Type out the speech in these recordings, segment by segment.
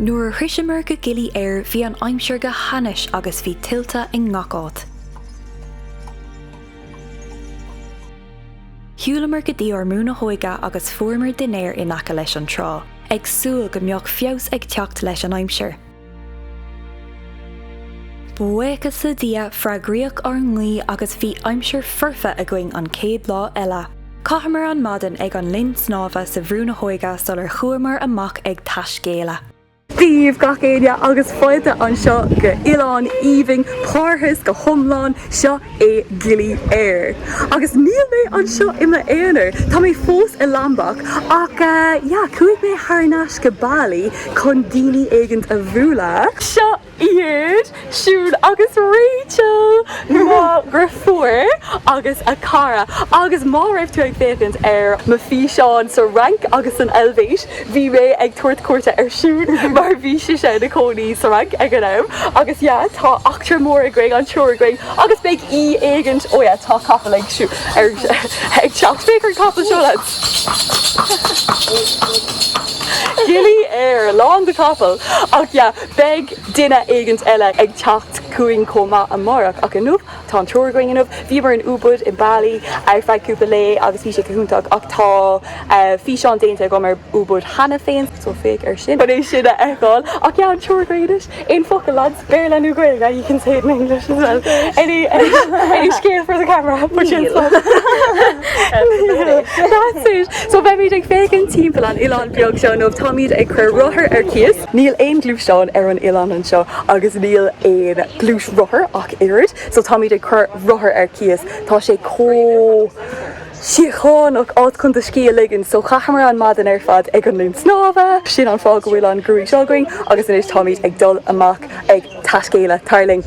Nuair a shroiseamar go Gili Air bhí an aimsir go hainnis agus bhí tuilte i ngach áit. Shiúlamar go dtí ár mBrú na hÓige agus fuaireamar dinnéar in aice leis an trá, ag súil go mbeadh feabhas ag teacht leis an aimsir. Buíochas le Dia, freagraíodh ár nguí agus bhí aimsir foirfe againn an chéad lá eile. Chaitheamar an maidin ag an linn snámha sa Bhrú na hÓige sular chuamar amach ag taiscéaladh. Dia daoibh gach éinne agus fáilte anseo go Oileán Aoibhinn, Parthas go hiomlán seo é Gili Air. Agus níl mé anseo i m'aonar, tá mé fós i Lombok ach, yeah, chuaigh mé thar n-ais go Bali chun daoine éigint a bhualadh. Seo iad Siún agus Rachel, mo dheirfiúr agus a cara. Agus má raibh tú ag féachaint ar m'fhíseáin sa Fhrainc agus san Eilvéis, Bhí mé ag tabhairt cuairte ar Siún mar bhí sise ina cónaí sa Fhrainc ag an am agus yeah tá eachtra mór againn, an triúr againn agus beidh aoi éigint, oh yeah tá capall ag teacht, féach ar an capall seo lads! Gili Air, lán de capall! Ach yeah, beidh duine éigint eile ag teacht chugainn chomh maith amárach ach inniu Tá an triúr againn inniu, bhíomar in Ubud, in Bali, ar feadh cúpla lae agus bhí sé go hiontach ach tá físeán déanta agam ar Ubud cheana féin so féach ar sin chun é sin a fheiceáil. Ach yeah, an triúr againn anois, aon focal lads? Béarla nó Gaeilge? You can say it in English as well. Any, any, any scéal for the camera? Níl. That's it. So bheimid ag féachaint timpeall an oileán beag seo nó táimid ag cur rothar ar cíos. Níl aon gluaisteán ar an oileán anseo agus níl aon gluaisrothar ach oiread, so táimid ag cur rothar ar cíos. Tá sé chomh síochánach, áit chun do scíth a ligean, so chaitheamar an maidin ar fad ag an linn snámha, sin an fáth go bhfuil an gruaig seo againn, agus anois táimid ag dul amach ag taiscéaladh. Tar linn.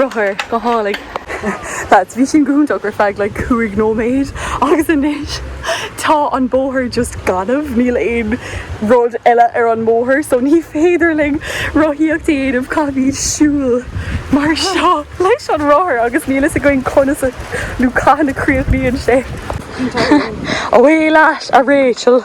rothar go hálainn. Lads, bhí sin go hiontach ar feadh like cúig nóiméad agus anois tá an bóthar just gaineamh níl aon rud eile ar an mbóthar so ní féidir linn rothaíocht a dhéanamh caithfimid siúl mar seo leis an rothar agus níl a fhios againn conas nó cathain a críochnaíonn sé. Away leat, a Rachel!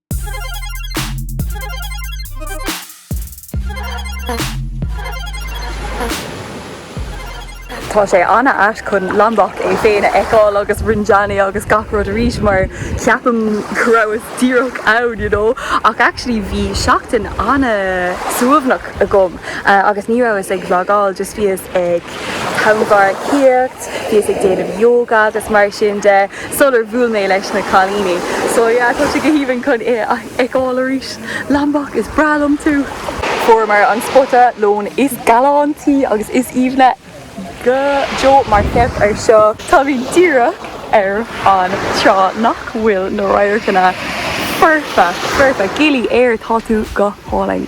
Tá sé an-ait chun Lombok é féin a fheiceáil agus Rinjani agus gach rud arís mar ceapaim go rabhas díreach ann you know ach actually bhí seachtain an-suaimhneach agam agus ní rabhas ag vlogáil just bhíos ag tonnmharcaíocht Bhíos ag déanamh yoga agus mar sin de sular bhuail mé leis na cailíní. So yeah, tá sé go haoibhinn chun é a fheiceáil arís. Lombok, is breá liom tú! Fuaireamar an spota lóin is galántaí agus is aoibhne go deo mar féach ar seo. Táimid díreach ar an trá nach bhfuil na radharcanna foirfe, foirfe! Gili Air, tá tú go hálainn!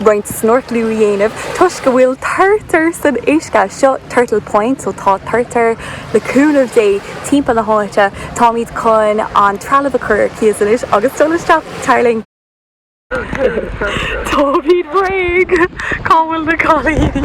roinnt snorclú a dhéanamh toisc go bhfuil turtar san uisce. Seo Turtle Point so tá turtair le cúnamh Dé timpeall na háite. Táimid chun an trealamh a chur ar cíos anois agus dul isteach. Tar linn. Táimid réidh! Cá bhfuil na cailíní?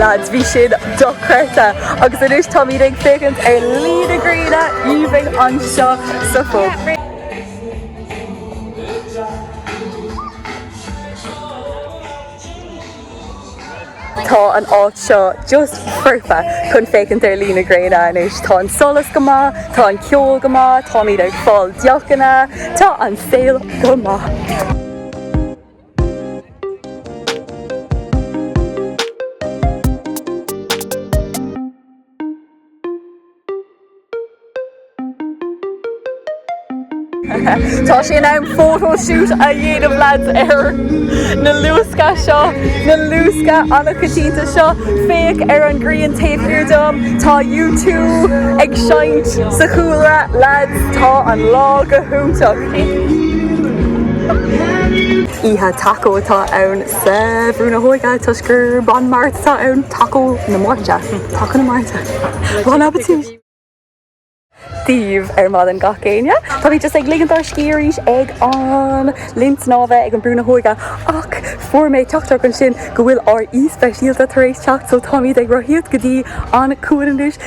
Lads, bhí sin dochreidte agus anois táimid ag féachaint ar luí na gréine aoibhinn anseo sa phub. Tá an áit seo just foirfe chun féachaint ar luí na gréine anois. Tá an solas go maith, tá an ceol go maith, táimid ag fáil deochanna, tá an saol go maith. Tá sé in am photo shoot a dhéanamh lads ar na luasca seo, na luasca an-choitianta seo. Féach ar an ghrian taobh thiar dom, tá U2 ag seinnt sa chúlra. Lads, tá an lá go hiontach! Oíche Taco atá ann sa Bhrú na hÓige toisc gurb an Mháirt atá ann, Taco na Máirte, Taco na Máirte, Bon Appetit! daoibh ar maidin gach éinne. Táimid just ag ligint ár scíth arís ag an linn snámha ag an Brú na hÓige ach fuair mé teachtaireacht ansin go bhfuil ár aoi speisialta tar éis teacht so táimid ag rothaíocht go dtí an cuan anois.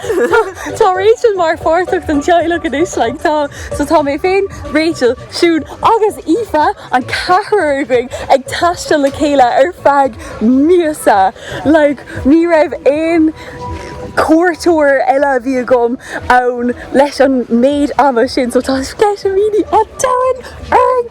Tá Rachel mar pháirteach den teaghlach anois, like, tá, so tá mé féin, Rachel, Siún agus Aoife, an ceathrar againn, ag taisteal le chéile ar feadh míosa. Like, ní raibh aon cuairteoir eile a bhí agam ann leis an méid ama sin, so tá sceitimíní an domhain orainn!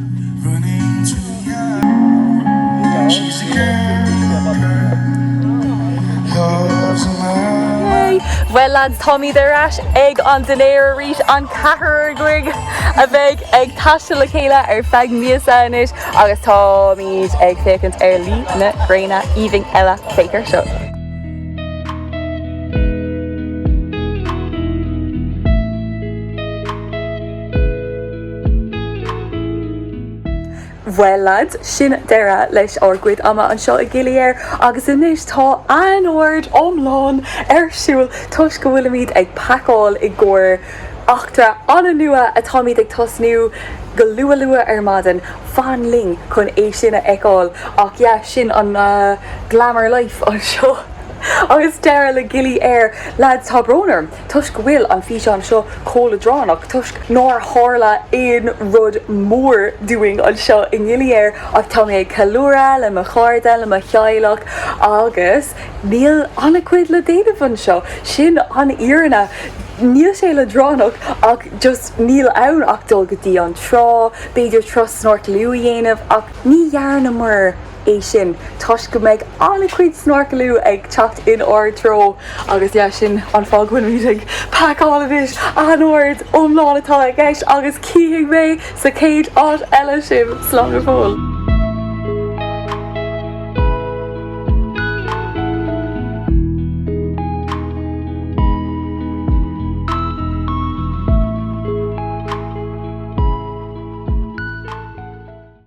Well lads, táimid ar ais ag an dinnéar arís, an ceathrar againn a bheith ag taisteal le chéile ar feadh míosa anois agus táimid ag féachaint ar luí na gréine aoibhinn eile féach air seo. Well lads, sin deireadh leis ár gcuid ama anseo i Gili Air agus anois tá anord iomlán ar siúl toisc go bhfuilimid ag packáil i gcomhair eachtra an-nua atáimid ag tosnú go luath luath ar maidin. Fan linn chun é sin a fheiceáil ach yeah, sin an glamour life anseo agus deireadh le Gili Air. Lads, tá brón orm. Toisc go bhfuil an físeán seo chomh leadránach, toisc nár tharla aon rud mór dúinn anseo i nGili Air ach tá mé ag ceiliúradh le mo chairde, le mo theaghlach agus níl an-chuid le déanamh anseo. Sin an fhírinne. Níl sé leadránach ach just níl ann ach dul go dtí an trá, b'fhéidir turas snorclú a dhéanamh ach ní dhearnamar. é sin toisc go mbeidh an-chuid snorclú ag teacht in ár dtreo agus yeah sin an fáth go bhfuilimid ag pacáil anois, anord iomlán atá i gceist agus chífidh mé sa chéad áit eile sibh, slán go fóill.